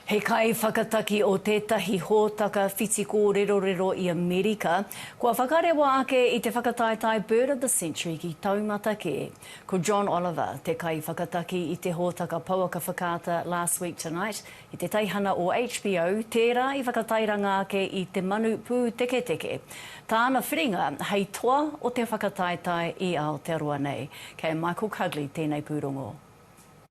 He kaiwhakataki o tētahi hōtaka whiti kōrerorero i Amerika, kua whakarewa ake i te whakataetae Bird of the Century ki taumata kē. Ko John Oliver te kaiwhakataki i te hōtaka pouaka whakaata Last Week Tonight i te teihana o HBO, tērā i whakatairanga ake i te manu pūteketeke. Tāna whiringa hei toa o te whakataetae i Aotearoa nei. Kei a Michael Cugley tēnei pūrongo.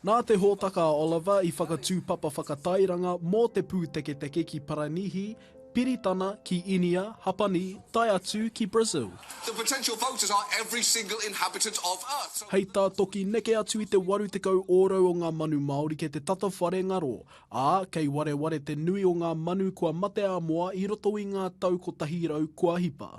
Nā te hōtaka a Oliver i whakatū papa whakatairanga mō te pūteketeke ki Paranihi, Piritana, ki Inia, Hapani, tae atu ki Brazil. Hei tā Toki neke atu i te 80 ōrau o ngā manu Māori kei te tata whare ngaro, ā, kei wareware te nui o ngā manu kua mate ā-moa i roto i ngā tau kotahi rau kua hipa.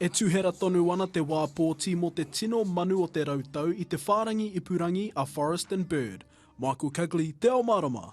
E tuhera tonu ana te wā pōti mō te tino manu o te rautau i te whārangi ipurangi a Forest and Bird. Michael Cugley, Te Ao Mārama.